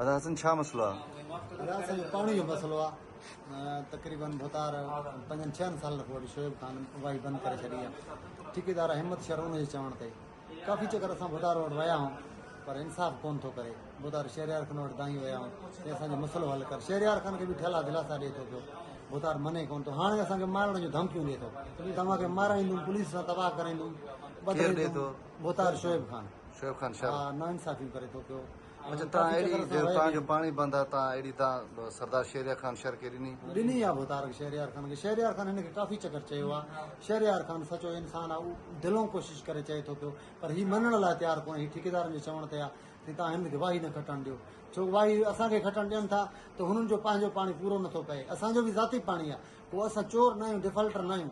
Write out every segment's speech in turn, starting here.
ادا حسن ڇا مسئلو آ. ادا حسن پاڻي جو مسئلو آ تقريبن ڀتار پنجن ڇهن سالن کان وٺي شعيب خان واهي بند ڪري ڇڏي آ ٺيڪيدار همت شر ان جي چوڻ تي ڪافي چڪر اسان ڀتار وٽ ويا هون پر انصاف ڪون ٿو ڪري ڀتار شهريار خان وٽ دانهين ويا هون چي اسان جو مسئلو حل ڪر شهريار خان کي به ٺلا دلاسا ڏئي ٿو پيو ڀتار مني ڪون ٿو هاڻي اسان کي مارڻ جون ڌمڪيون ڏئي ٿو توهان کي مارائيندم پوليس سان تباهه ڪرائيندم ڀتار شعيب خان شعيب خان ها نا انصافيون ڪري ٿو پيو اچ تان اهڙي جو تان جو پاڻي بند آ تان اهڙي تان سردار شهريار خان شر کي ڏني. ڏني آ ڀوتارڪ شهريار خان کي شهريار خان هن کي ڪافي چڪر چيو آ شهريار خان سچو انسان آ هو دلئون ڪوشش ڪري چئي ٿو پيو پر هي مڃڻ لاء تيار ڪونهي هي ٺيڪيدارن جي چوڻ تي آ تي تان هن کي واهي نه کٽڻ ڏيو ڇو واهي اسان کي کٽڻ ڏين ٿا ته هنن جو پنهنجو پاڻي پورو نٿو پئي اسان جو به ذاتي پاڻي آ ڪو اسان چور ناهيون ڊفالٽر ناهيون.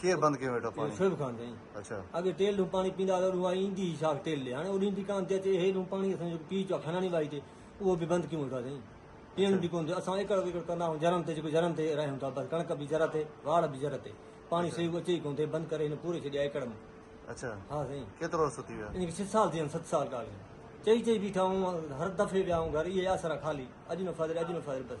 ڪير بند ڪيو ويٺو پاڻي؟ شعيب خان چيائين. اڇا. اڳي ٽيل ڏون پاڻي پيندا هئا ته اها ايندي هئي شاخ ٽيل ڏي. هاڻي اڏيم ٿي ڪانه ٿي اچي اهي ڏون پاڻي اسان جيڪو پيئي اچو کناڻي وائي تي اهو به بند ڪيون ويٺو سائين. پيئڻ به ڪونه ٿيو. اسان ايڪڙ ويڪڙ ڪندا هئون جرن تي جيڪو جرن تي راهيون ٿا بس ڪڻڪ به جر تي واڙ به جر تي. پاڻي اڇا. سيو اچي ئي ڪونه ٿي بند ڪري هن پوري ڇڏيا ايڪڙ مان. اڇا. ها سائين. ڪيترو عرصو ٿي ويو آهي؟ ان کي ڇهه سال ٿي ويا آهن ست سال ڪال کن. چئي چئي بيٺا هئون هر دفعي ويا هئون گهر اهي آسرا خالي اڄ نه فاضل اڄ نه فاضل بس.